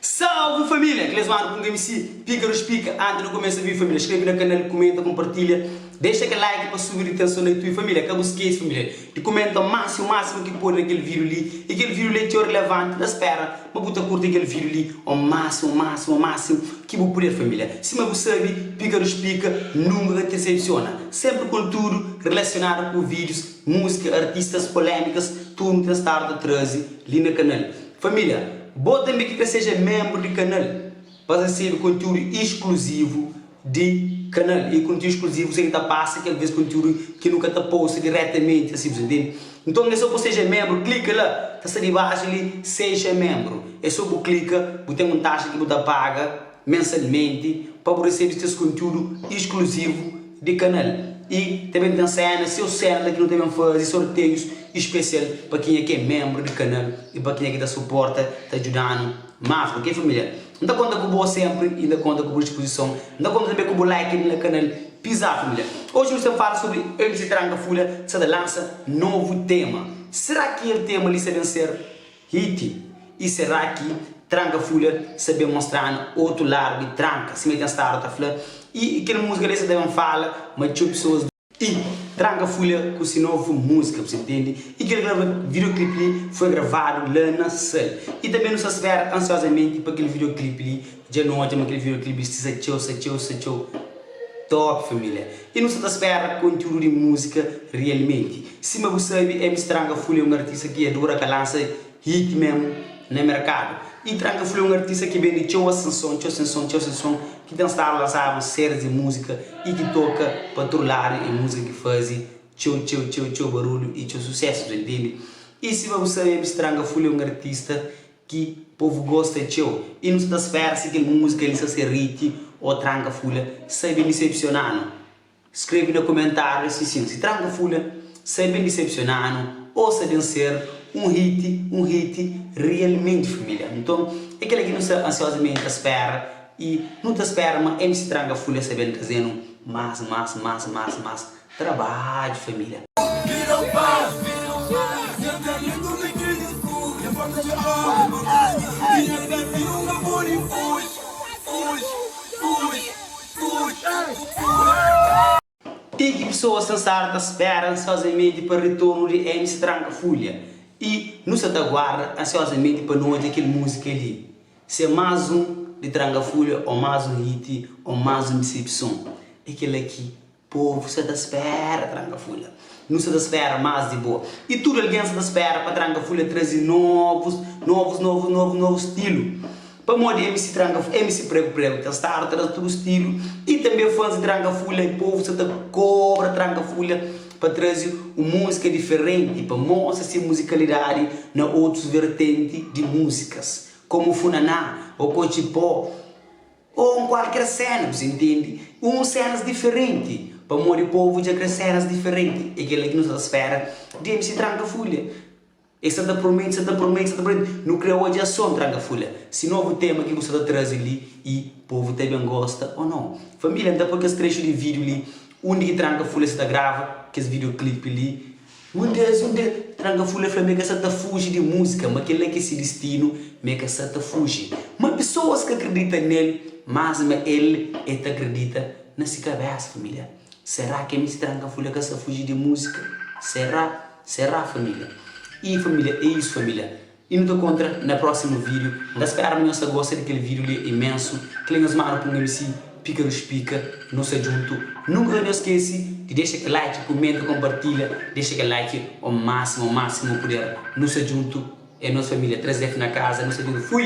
Salve família! Aqueles mano com quem se pica nos pica antes no começa vir família escreve na canal comenta compartilha deixa aquele like para subir de tensão na youtube família cá bu esquece família de comenta máximo máximo que pode naquele vídeo ali e aquele vídeo ali é txeu relevante na espera ma bu ta curte aquele vídeo ali o máximo máximo máximo que bu puder família sima bu sabe pica nos pica nunca ka te decepciona sempre com tudo relacionado com vídeos músika, artistas, polémikas, tudu nu ten stadu ta traze li na kanal. Família, bo tanbê ki ka seja menbru di kanal pa resebe kontiúdu iskluzivu di kanal. E kontiúdu iskluzivu sen ki ta pasa kel vez kontiúdu ki nu ka ta posta diretamenti asi, bu sa intende? Nton, é sô pa seja menbru, klika la, ta sta dibaxu li, Seja Menbru. É sô bu klika, bu ten un taxa ki bu ta paga mensalmenti pa bu resebe ses kontiúdu iskluzivu. di kanal y ta ben ten séna seu séla ki nu ta ben fazi sorteius spesial pa kenha ki é menbru di kanal y pa kenha ki ta suporta ta djudanu más ok família N ta konta ku bo senpri y N ta konta ku bu dispuzison N ta konta tanbe ku bu like di na kanal Pizza família Oji nu sta fala sobri MC Tranka Fula ki sta ta lansa novu tema Sera ki el tema li sta ben ser Hiti, y será ki tranka fula sa ben mostranu otu ladu di tranka sima ki el staba ta fla y kel musika li sa ta ben fala ma txeu pesoas. Y tranka fula ku se novu musika bu sa intendi y kel grava videoclip li foi gravadu la na sal y tanbe nu sa spera ansiozamenti pa kel videoclip li Dja nu odja ma kel video clip sti sa txeu sa txeu sa txeu top família e nu sa ta spera kontiúdu di músika realmenti sima bu sabe MC Tranka Full é un artista ki adura ka lansa hit mesmu na merkadu y Tranka Full é un artista ki bende txeu asenson txeu asenson txeu asenson ki ten stadu lansadu series di músika y ki toka pa tudu ladu é músika ki faze txeu txeu txeu txeu barulhu y txeu susesu ta intende y sima bu sabe MC Tranka Full é un artista ki povu gosta txeu i nu sta ta spera si kel múzika li sta ser hit ô tranka fula sta ben disepsiona-nu. Skrebe na kumentáriu si sin, si tranka fula sta ben disepsiona-nu ô sta ben ser un hit, un hit rialmenti família. Nton, é kel-la ki nu sta ansiozamenti ta spera i nu ta spera ma mc tranka fula sta ben traze-nu más, más, más, más, más Trabadju família. Ti ki pesoas sensadu ta spera ansiozamenti pa retornu di MC Tranka Fulha y nu sa ta guarda ansiozamenti pa nu odja kel musika li. Si é más un di Tranka Fulha, o más un hit, o más un disepison, é kel-la ki. Povu sa ta spera tranka fula. Nu sa ta spera mas di bo. I tudu algen sa ta spera pa tranka fula trazi novus novus novus novus novus stilu. Pamodi mc tranka fula mc pregu pregu ta stadu traz tudu stilu i tanbe fans di tranka fula i povu sa ta kobra tranka fula pa trazi un musika diferenti pa mostra se musikalidadi na otus vertenti di musikas komu funaná, okochi pó. Ô un kualker séna, bu sa intende, un sénas diferenti, pamodi povu dja kre sénas diferenti, é kel-li ki nu sa ta spera di mc Tranka Fulha. Es sa ta promete, sa ta promete, sa ta promete, nu kre odja son Tranka Fulha. Si novu tema ki bu sa ta traze li y povu ta ben gosta ô nau? Família, N ta poi kes trechu di vídiu li undi ki Tranka Fulha sa ta grava kes videoclipe li, Un des un des tranga fula fla ma e ka sa ta fuji di múzika, ma kel-la ki é se distinu, ma e ka sa ta fuji. Má pesoas ka kridita nel, más ma el e ta kridita na se kabésa. Família, será ki ami se tranga fula ka sa fuji di múzika? Será? Será família? I família, é isu família. I nu ta kontra na prósimu vídiu. N ta speraba ma nhos ta gosta di kel vídiu li imensu. Kel li nhos manda pa un ami si pika nu spika. Nu sta djuntu. Nunka ka nhos skese di dexa kel like, kumenta, konpartilha. Dexa kel like o másimu, o másimu puder. Nu sta djuntu. É nos família 3F na kaza. Nu sta djuntu. Fui!